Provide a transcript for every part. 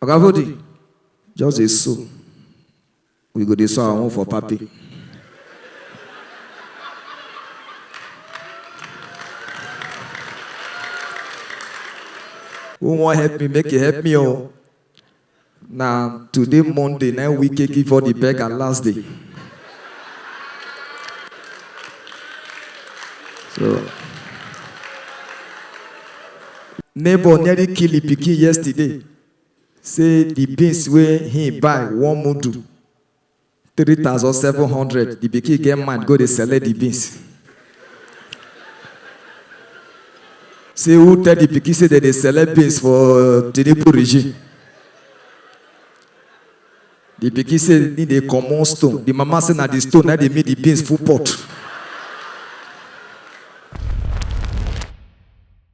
Oga Vodi, just dey so. We go dey so our own for papi. Who wan help me make e help me o. Na today Monday na im Wike give all the beggar last day. So Neighbour nearly kill im pikin yesterday say di beans wey im buy one mudu three thousand seven hundred, di pikin get mind go dey select di beans. Say who tell di pikin say dem dey select beans for Tinubu regime? Di pikin say im dey comot stone, di mama say na di stone na dey make di beans full pot.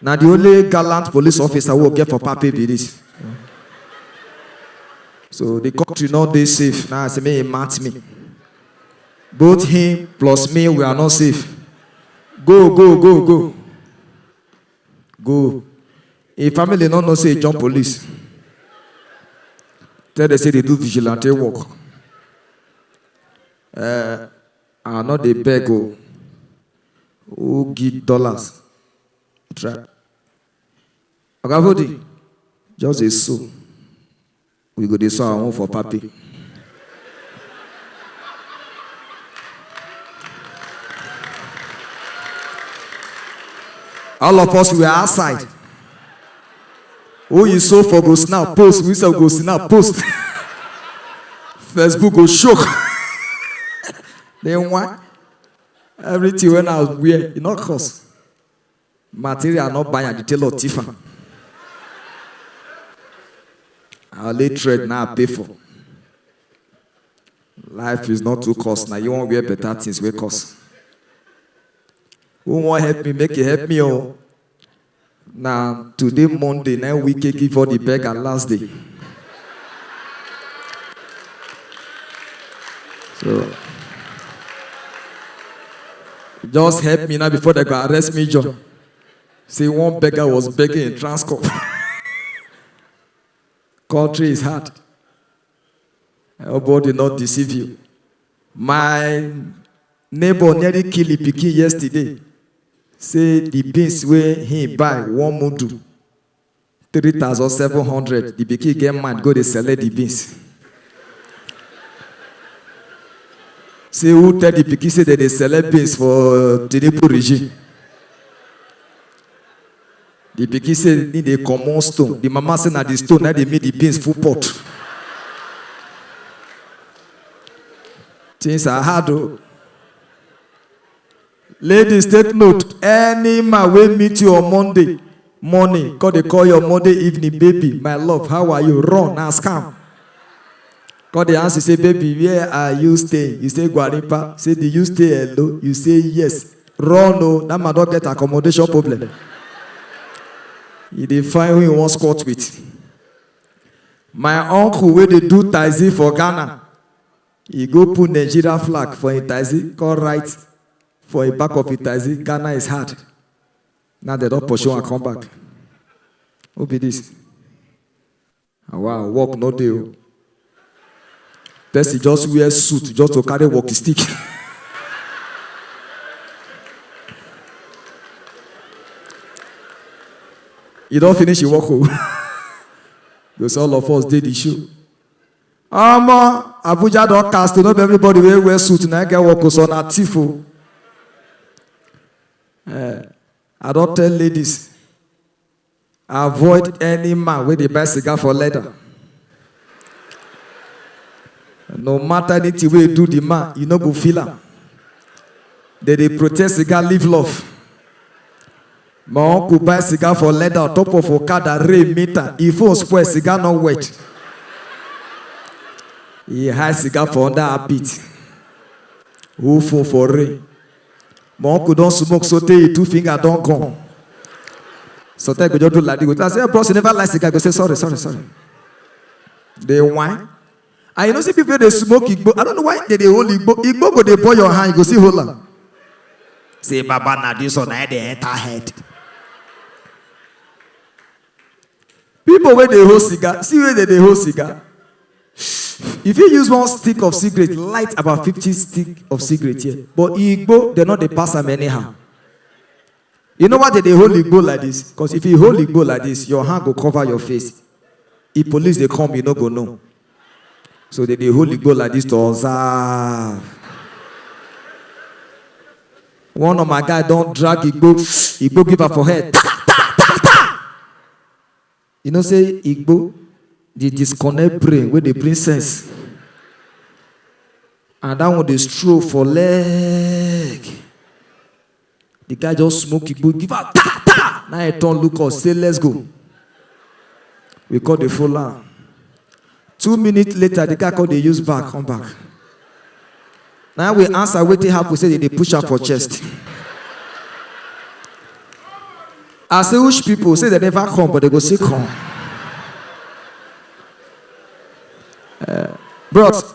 Na the only gallant police officer wey we get for Pape be this. So the country no dey safe. Now I say make he match me. Both him plus me, we are not safe. Go, go, go, go. Go. Him family no know say he jump police. Tell them say they do vigilante work. Eh, I no dey beg o, who get dollars try. Oga Vodi, just dey sew, we go dey sew our own for party. All of us we were outside. Oyi so for go snap post, we sef go snap post. Facebook go shock. Then why? Everything when I wear, it not cost. Material not buy and the tailor thief am. I only trade now I pay for. Life is not too cost. Now you want wear better things wey cost. Who wan help me make e help me o. Na today Monday na im Wike give all the beggar last day. So just help me now before they go arrest me, John. Say one beggar was begging in Transcorp. Country is hard. I hope God did not deceive you. My neighbor nearly kill the pikin yesterday. Say the beans wey he buy one mudu three thousand seven hundred. The pikin get mad go dey select the beans. Say who tell the pikin say dem dey select beans for Tinubu regime? Di pikin say im dey comot stone, di mama say na di stone na im dey make di beans full pot. Things are hard o. Ladies take note, any man wey meet you on Monday morning come dey call you on Monday evening, baby, my love, how are you? Run, na scam. Come dey ask you say baby where are you staying? You say Gwarimpa. Say do you stay alone? You say yes. Run o, that man don get accommodation problem. He dey find who he wan squat with. My uncle wey dey do taxi for Ghana, he go put Nigeria flag for him taxi come write for him back of him taxi Ghana is hard. Now dem don pursue am come back. Who be this? Awaa work no dey o. Person just wear suit just to carry walkie stick. E don finish him work o. Go say all of us dey the show. Omo Abuja don cast o no be everybody wey wear suit na get work o so na thief o. Eh, I don tell ladies Avoid any man wey dey buy cigar for leather. No matter anything wey you do the man, you no go feel am. Dem dey protest cigar live love. My uncle buy cigar for leather on top of Okada, rain meet am, e phone spoil, cigar no wet. E hide cigar for under armpit, hold phone for rain. my uncle don smoke so tey e two finger don gone sometimes go just do like this go tell am say bros you never like cigar go say sorry sorry sorry dey whine and you know see people wey dey smoke igbo i don't know why they dey hold igbo igbo go dey burn your hand you go see hold am say baba na this one na dey enter head Pipo wey dey hold cigar, see wey dem dey hold cigar You fit use one stick of cigarette light about fifty stick of cigarette here But igbo, dem no dey pass am anyhow You know why dem dey hold igbo like dis? Because if you hold igbo like dis, your hand go cover your face If police dey come, you no go know So they dey hold the goal like this to observe. One of my guy don drag Igbo, Igbo give am for head. Ta, ta, ta, ta. You know say Igbo dey disconnect brain wey dey bring sense. And that one dey stroll for leg. The guy just smoke igbo give am ta ta. Now he turn look us say let's go. We call the full am. Two minutes later the guy come dey use back come back. Now we answer wetin happen say they dey push am for chest. I say which people say they never come but they go still come. Bros,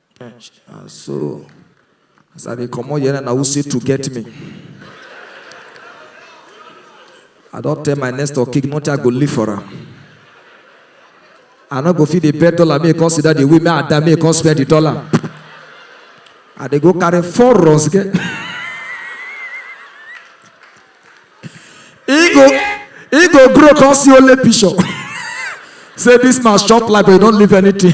And so, as I dey comot here na who say to get me. I don tell my next door king nothing I go leave for am. I no go fit dey bet dollar make e come sit down dey wait make I die make e come spend the dollar. I dey go carry four runs get. He go he go grow come see only picture. Say this man chop like they don't leave anything.